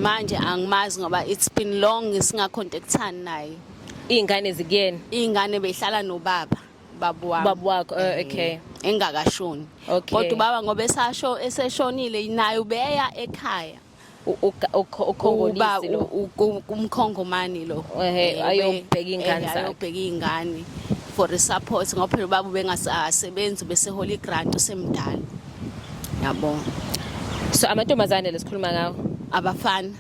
manje angimazi ngoba it's been long singacontactani naye iy'ngane zikuyena iy'ngane behlala nobaba babu wami babu wakho oh, eh, okay engakashoni Okay. kodwa ubaba ngoba esasho eseshonile naye ubeya ekhaya U- uga- ukho- uba ukhongolisi lo u- u- umkhongomani lo Ehhe, Eh, ayobheka ube- iy'ngane eh, zakhe. ayobheka iy'ngane for support ngoba phela ubaba ubengasebenzi ubesehola igrant usemdala yabo so amantombazane lesikhuluma ngawo abafana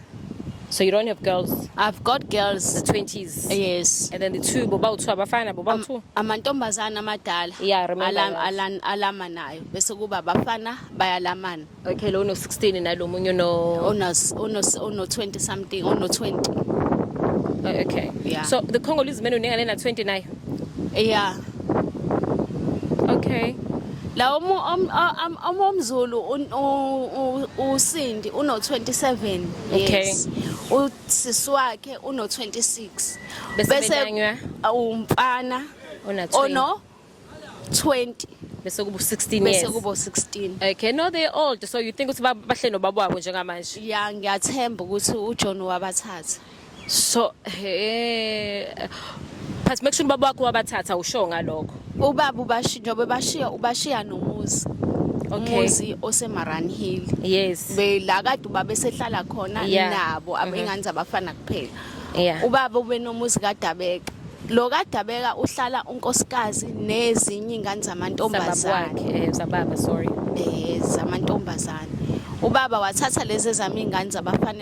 So you don't have girls? I've got girls. The 20s? Yes. And then the two, boba two, abafana, boba two? Amantombazana amadala. Yeah, remember Alam, that. alan, alama nayo. Bese kuba abafana bayalamana. Okay, lo no 16 nalo munye no Ono ono ono 20 something, ono 20. Oh, okay. Yeah. So the Congolese men uninga lena 20 nayo? Yeah. Okay. La omu om- a- am- omu omzulu un- u- u- usindi uno 27 Okay. years. Usisi wakhe uno 26. Bese betanywa? umfana Ona 20. ono 20 Bese kubo 16 bese years. kubo 16. Okay, no they old so you think ukuthi ba- bahle nobaba wabo njengamanje. Ya ngiyathemba ukuthi uJohn wabathatha. so he but make sure ubaba wakho wabathatha usho ngalokho ubaba ubashinjo bebashiya ubashiya nomuzi okay. umuzi osemaran hill yes bela kade ubaba esehlala khona yeah. nabo mhm. abengane zabafana kuphela yeah. ubaba ubenomuzi kadabeka lo kadabeka uhlala unkosikazi nezinye ingane zamantombazane eh, zababa sorry eh zamantombazane ubaba wathatha lezi zami ingane zabafana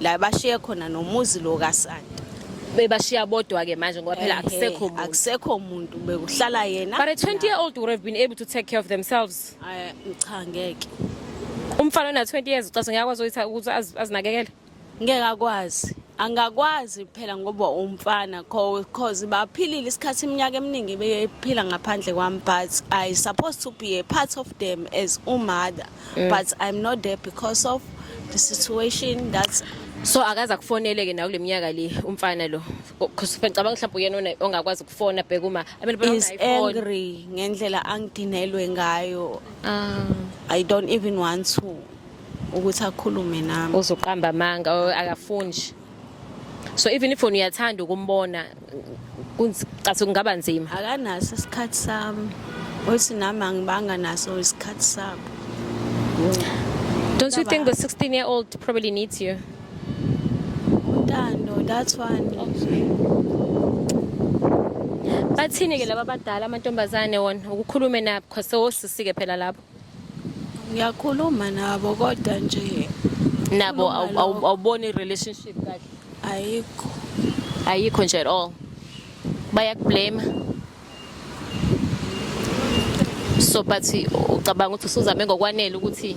la bashiye khona nomuzi lo kaSanta bebashiya bodwa ke manje ngoba phela akusekho muntu akusekho muntu bekuhlala yena but a 20 year old would have been able to take care of themselves ay cha ngeke umfana ona 20 years ucathi ngiyakwazi ukuthi ukuthi azinakekele ngeke akwazi angakwazi phela ngoba umfana cause baphilile isikhathi iminyaka eminingi bephila ngaphandle kwami but i supposed to be a part of them as umother mm. but i'm not there because of the situation that's so akaze akufonele ke nawo kuleminyaka le umfana lo because ngicabanga mhlawumbe uyena ongakwazi ukufona bheka uma is angry ngendlela angidinelwe ngayo ah. i don't even want to ukuthi akhulume nami uzoqamba amanga akafuni nje so even if uyathanda ukumbona kuncathi kungaba nzima akanaso isikhathi sami othi nami angibanga naso isikhathi sabo don't you think the 16 year old probably needs you untando that's one bathini ke laba badala amantombazane wona ukukhulume nabo khosewosisi ke phela lapho ngiyakhuluma nabo kodwa nje nabo Khuluma awu- awu- lokho. awuboni relationship kahle ayikho ayikho nje at all bayakublame so but ucabanga ukuthi usuzame ngokwanele ukuthi